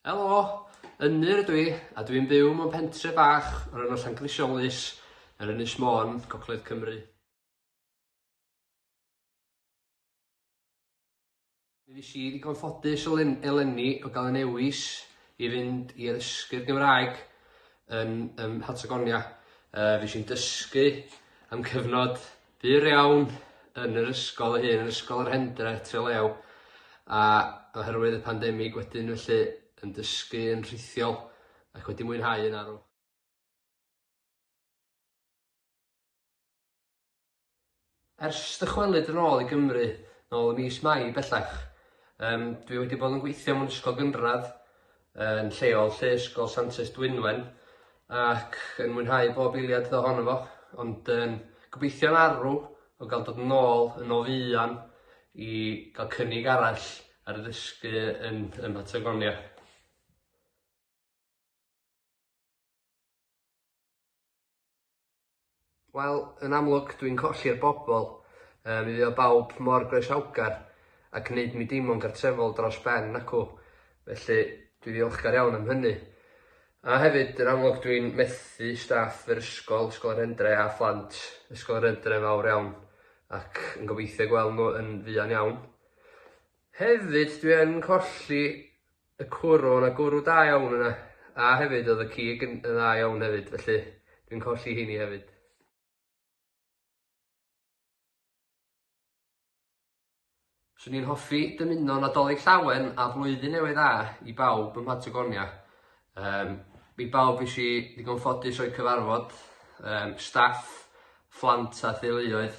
Helo! Ynyr ydw i, a dwi'n byw mewn pentre bach o'r enw Llangrisiolus, ar Ynys Môn, Gogledd Cymru. Fues i ddigon ffodus eleni o gael y newis i fynd i addysgu'r Gymraeg yn ym Mhatagonia. Yy fues i'n dysgu am cyfnod byr iawn yn yr ysgol ei hun, yn Ysgol yr Hendre, Trelew, a oherwydd y pandemig wedyn felly yn dysgu yn rhithiol ac wedi mwynhau yn arw. Ers dychwelyd yn ôl i Gymru, nôl ym mis Mai bellach, yym dwi wedi bod yn gweithio mewn ysgol gynradd yn lleol 'lly, Ysgol Santes Dwynwen, ac yn mwynhau bob eiliad ohono fo, ond yn gobeithio'n arw o gael dod yn ôl yn o fuan i gael cynnig arall ar ddysgu yn yn Patagonia. Wel, yn amlwg, dwi'n colli'r bobl. Yy, mi fuodd bawb mor groesawgar ac yn neud mi deimlo'n gartrefol dros ben, nacw? Felly, dwi ddiolchgar iawn am hynny. A hefyd, yn amlwg, dwi'n methu staff yr ysgol, Ysgol yr Hendre, a phlant Ysgol yr Hendre yn fawr iawn, ac yn gobeithio gweld nhw yn fuan iawn. Hefyd, dwi yn colli Y cwrw, o' 'na gwrw da iawn yna, a hefyd o'dd y cig yn yn dda iawn hefyd, felly dwi'n colli heini hefyd. Swn i'n hoffi dymuno Nadolig Llawen a Blwyddyn Newydd Dda i bawb ym Mhatagonia. Yym, i bawb es i ddigon ffodus o'u cyfarfod, yym, staff, phlant a theuluoedd.